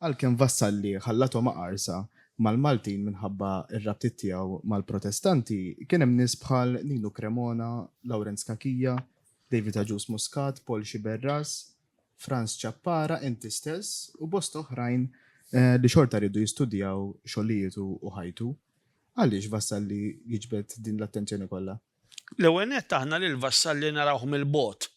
Għalkemm Vassalli ħallathom aqarsa mal-Maltin minħabba r-rabtiet tiegħu mal-Protestanti, kien hemm nies bħal Ninu Cremona, Lawrenz Cachia, David Agius Muscat, Paul Sciberras, Frans Ciappara, inti stess u bosta oħrajn li xorta riedu jistudjaw xogħlietu u ħajtu. Għaliex Vassalli jiġbed din l-attenzjoni kollha? L-ewwel nett aħna lil Vassalli narawh mill-bogħod.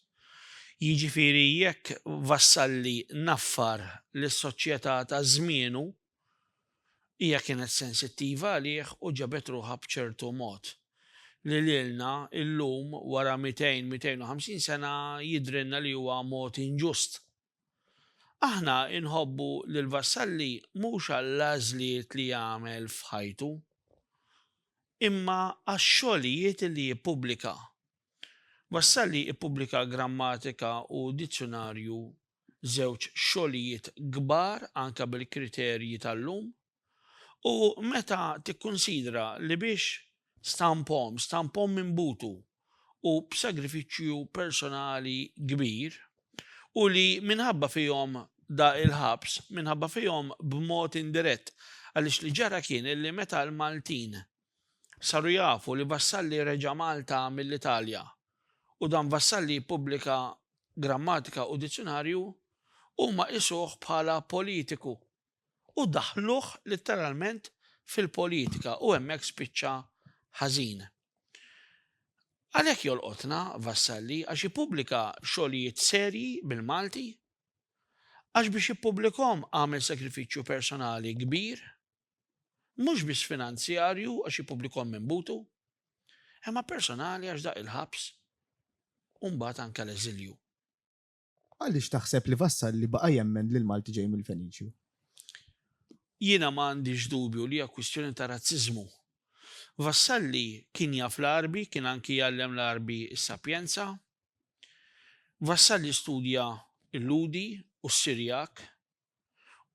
Jiġifieri jekk Vassalli naffar lis-soċjetà ta' żmienu, Hija kienet sensittiva għalih u ġabet ruħha b'ċertu mod, li lilna illum wara mitejn, mitejn u ħamsin sena jidhrilna li huwa mod inġust. Aħna nħobbu lil Vassalli mhux għall-għażliet li għamel f'ħajtu, imma għax-xogħlijiet li jippubblika. Vassalli ppubblika grammatika u dizzjunarju żewġ xogħlijiet kbar anke bil-kriterji tal-lum u meta tikkunsidra li biex stampahom, stampahom minn butu u b'sagrifiċċju personali kbir u li minħabba fihom da il-ħabs, minħabba fihom b'mod indirett għaliex li ġara kien li meta l-Maltin Saru jafu li Vassalli reġa' Malta mill-Italja u dan Vassalli jippubblika grammatika u dizzjunarju, huma qisuh bħala politiku u daħħluh litteralment fil-politika u hemmhekk spiċċa ħażin. Għalhekk jolqotna Vassalli għax jippubblika xogħlijiet serji bil-Malti għax biex jippubblikahom għamel sagrifiċċju personali kbir. Mhux biss finanzjarju għax jippublikhom minn butu, imma personali għax daq il-ħabs u mbagħad anke l-eżilju. Għaliex taħseb li Vassalli baqa' jemmen li l-Malti ġej mill-Feniċju? Jiena ma għandix dubju li hija kwistjoni ta' razziżmu. Vassalli kien jaf l-Għarbi, kien anki jgħallem l-Għarbi s-Sapjenza. Vassalli studja l-Lhudi u s-Sirjak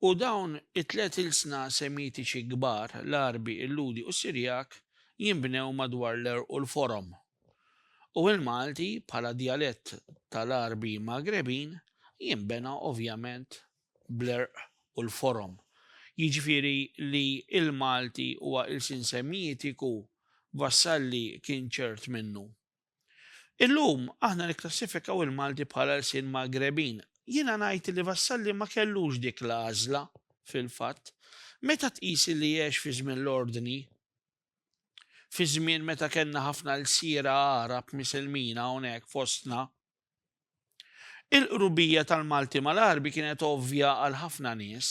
U dawn it-tliet ilsna Semitiċi kbar, l-Għarbi, il-Lhudi u s-Sirjak, jinbnew madwar l-għerq u l-forom. U il-Malti, bħala djalett tal-Għarbi Magrebin, jinbena ovvjament bl-għerq u l-forom. Jiġifieri li l-Malti huwa ilsien Semitiku, Vassalli kien ċert minnu. Illum aħna nikklassifikaw il-Malti bħala lsien Magrebin. Jiena ngħid li Vassalli ma kellux dik l-għażla fil-fatt. Meta tqis li għex fi żmien l-ordni, fi żmien meta kellna ħafna lsiera Għarab misilmina hawnhekk fostna, il-qrubija tal-Malti mal-Għarbi kienet ovvja għal ħafna nies.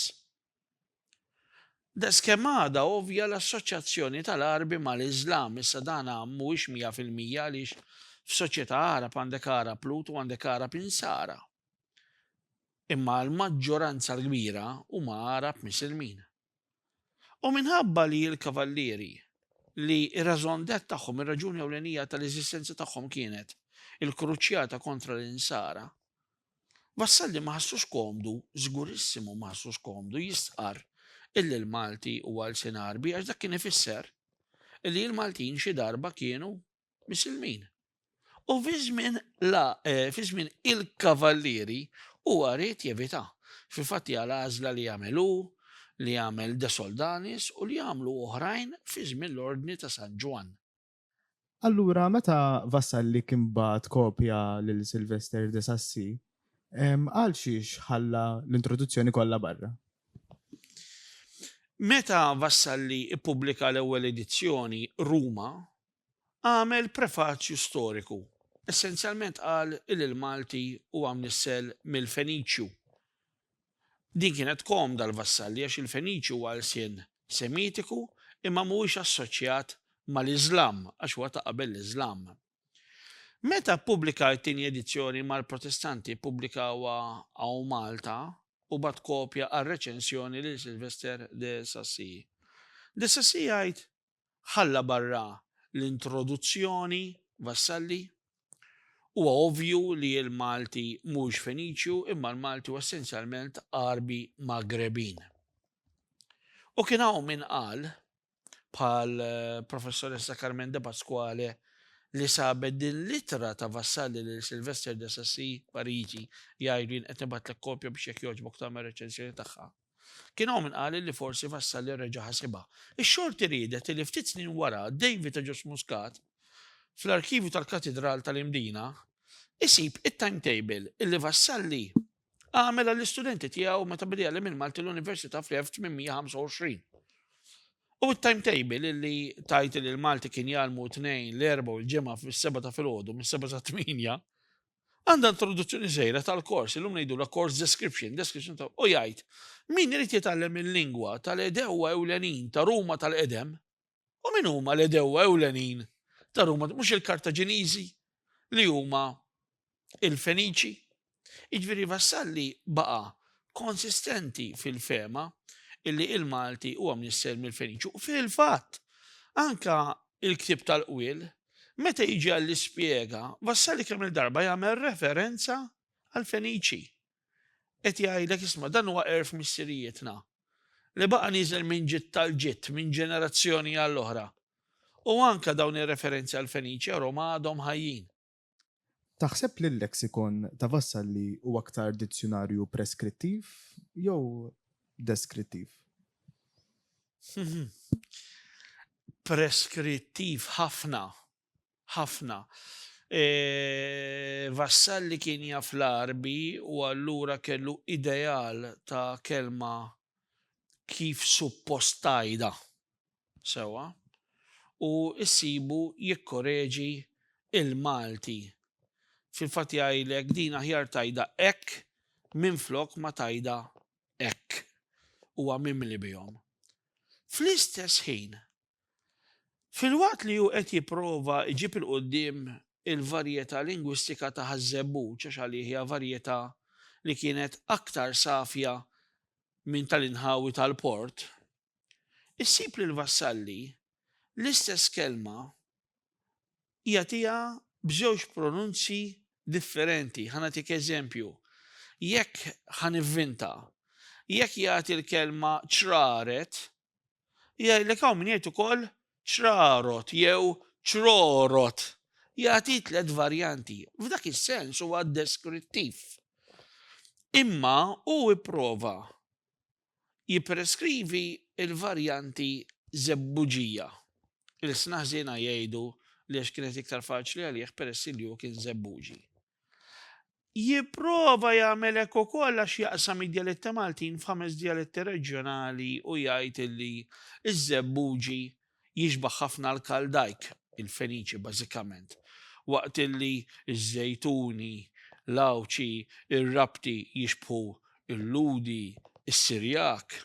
Daqskemm għadha ovvja l-assoċjazzjoni tal-Għarbi mal-Iżlam, issa dan mhuwiex mija fil-mija għaliex f'soċjetà Għarab għandek Għarab Lut u għandek Għarab Insara. Imma l-maġġoranza l-kbira huma Għarab Misilmin. U minħabba li l-kavallieri li r-rażon det tagħhom, ir-raġuni ewlenija tal-eżistenza tagħhom kienet il-kruċjata kontra l-insara, wassal li ma ħassux komdu, żgurissimu ma ħassux komdu jistqar illi l-Malti huwa lsien Għarbi għax dak kien ifisser illi l-Maltin xi darba kienu misilmin. U fi żmien la eh, fi żmien il-kavallieri huwa rrid jevita. Fil-fatt hija l-għażla li jagħmel hu, li jagħmel De Soldanis u li jagħmlu oħrajn fi żmien l-Ordni ta' San Ġwann. Allura meta Vassalli kien bagħat kopja lil Sylvester de Sacy, għalxiex ħalla l-introduzzjoni kollha barra? Meta Vassalli ppubblika l-ewwel edizzjoni, Ruma, għamel prefaċju storiku. Essenzjalment qal li l-Malti huwa mnissel mill-Feniċju. Din kienet komda l-vassalli għax il-Feniċi huwa lsien Semitiku imma mhuwiex assoċjat mal-Iżlam għax huwa ta' qabel l-Iżlam. Meta ppubblikar it-tieni edizzjoni mal-Protestanti ppubblikawha hawn Malta u bagħat kopja għar-reċensjoni lil Sylvester de Sacy. De Sacy jgħid ħalla barra l-introduzzjoni, Vassalli, Huwa ovvju li l-Malti mhux Feniċju imma l-Malti hu essenzjalment Għarbi Magrebin. U kien hawn min qal bħal professoressa Carmen De Pasquale li sabet din l-ittra ta' Vassalli lil Sylvester de Sassy Pariġi jgħidlin qed nibatlek kopja biex jekk jogħġbok tagħmel reċensjoni tagħha. Kien hawn min qal li forsi Vassalli reġa' ħasibha. Ix-xorti riedet li ftit snin wara David Agius Muscat, fl-arkivju tal-Katidral tal-Imdina, isib it-timetable li Vassalli għamel għall-istudenti tiegħu meta beda jgħallem il-Malti l-Università fl-1825. U t-timetable li tajt li l-Malti kien jgħalmu tnejn l-erba u l-ġimgħa fis-seba ta' filgħodu mis-seba sa' tminja, Għandha introduzzjoni żgħira tal-kors, illum ngħidulha course description, description ta' u jgħid min irid jitgħallem il-lingwa tal-edewwa ewlenin ta' Ruma tal-qedem u min huma l-edewwa ewlenin ta' Ruma mhux il-Kartaġiniżi li huma il-Feniċi. Iġviri Vassalli baqa konsistenti fil-fema illi il-Malti huwa mnisser mill-Feniċi u fil-fatt anka il-ktib tal-qwil meta jiġi għall-ispjega, Vassali kemm il-darba jagħmel referenza għall-Feniċi. Qed jgħidlek isma' dan huwa erf missirijietna li baqa' nieżel minn ġid tal-ġid, minn ġenerazzjoni għall-oħra. U anke dawn ir-referenzi għall-Feniċi Roma għadhom ħajjin. Taħseb li l-leksikon ta' Vassalli huwa aktar dizzjunarju preskrittiv jew deskrittiv? Preskrittiv ħafna, ħafna. E, Vassalli kien jaf l-arbi u allura kellu ideal ta' kelma kif suppostajda. sewwa u ssibu jikkoreġi il-Malti. Fil-fatt jgħidlek din aħjar tgħidha hekk minflok ma tgħidha hekk. Huwa mimli bihom. Fl-istess ħin, filwaqt li hu qed jipprova jġib 'il quddiem il-varjetà lingwistika ta' Ħaż-Żebbuġ għax għalih hija varjetà li kienet aktar safja minn tal-inħawi tal-port, issib li l-Vassalli l-istess kelma jagħtiha b'żewġ pronunzi differenti. Ħa nagħtik eżempju, jekk ħanivvinta, jekk jagħti l-kelma ċraret, jgħidlek hawn min jgħid ukoll ċrarot jew ċrorot. Jagħti tliet varjanti. F'dak is-sens huwa deskrittiv. Imma hu ipprova jippreskrivi l-varjanti Żebbuġija. Ilsna ħżiena jgħidu li għax kienet iktar faċli għalih peress li hu kien Żebbuġi. Jipprova jagħmel hekk ukoll għax jaqsam id-djaletti Maltin f'ħames djaletti reġjonali u jgħid li ż-Żebbuġi Jixbah ħafna l-Kaldajk, il-Feniċi bażikament, waqt li ż-Żejtuni, l-Għawdxi, ir-Rabti jixbħu l-Lhudi, is-Sirjak,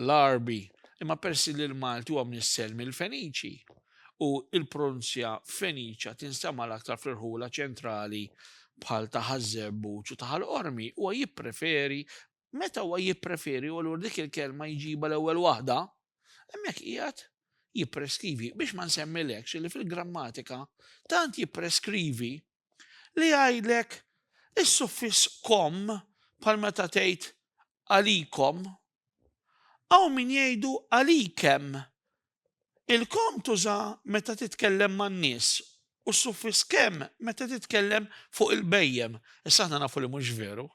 l-Għarbi, imma peress li l-Malti huwa mnissel mill-Feniċi u l-pronunzja Feniċa tinstema' l-aktar fl-irħula ċentrali bħal ta' Ħaż-Żebbuġ u ta' Ħal Qormi, huwa jippreferi meta huwa jippreferi u allura dik il-kelma jġibha l-ewwel waħda, hemmhekk qiegħed jippreskrivi biex ma nsemmilekx li fil-grammatika tant jippreskrivi li jgħidlek is-suffiss kom bħal meta tgħid għalikom hawn min jgħidu għalikem. Il-kom tuża meta titkellem man-nies u s-suffiss kemm meta titkellem fuq il-bejjem. Issa aħna nafu li mhux veru.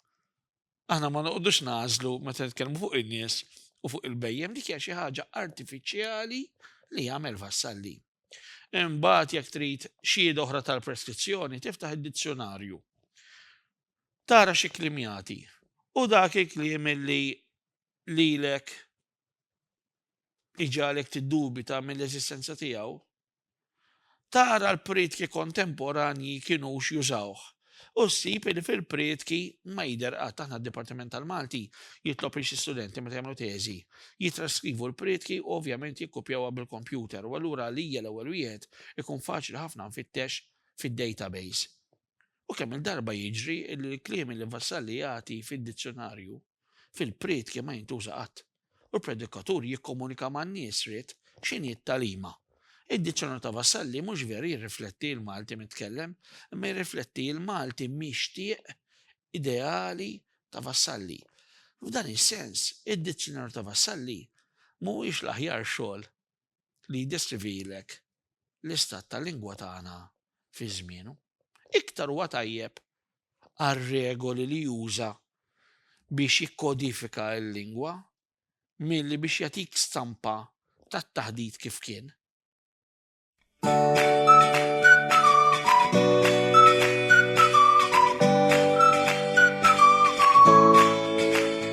Aħna ma noqgħodux nażlu meta nitkellmu fuq in-nies u fuq il-bejjem dik hija xi ħaġa artifiċjali li jagħmel vassalli. Imbagħad jekk trid xied oħra tal-preskrizzjoni tiftaħ id-dizzjonarju. Tara xi klimjati u dak il-kliem li lilek iġalek tiddubita mill-eżistenza tiegħu Tara l-prietki kontemporanji kienux jużawh u ssib li fil-prietki ma jidher qatt aħna d-Dipartiment tal-Malti jitlob li xi studenti meta jagħmlu teżi jitraskrivu l-prietki u ovvjament jikkupjawha bil-kompjuter u allura għalija l-ewwel wieħed ikun faċli ħafna nfittex fid-database. U kemm il-darba jiġri li l-kliem li Vassalli jagħti fid-dizzjonarju fil-prietki ma jintuża qatt, u l-predikatur jikkomunika man-nies ried x'inhi t-tagħlima. Id-dizzjonarju ta' Vassalli mhux veru jirrifletti l-Malti mitkellem, imma jirrifletti l-Malti mixtieq ideali ta' Vassalli. F'dan is-sens, id-dizzjonarju ta' Vassalli mhuwiex l-aħjar xogħol li jiddeskrivilek l-istat tal-lingwa tagħna fi żmienu, iktar huwa tajjeb għar-regoli li juża biex jikkodifika l-lingwa milli biex jagħtik stampa tat-taħdit kif kien.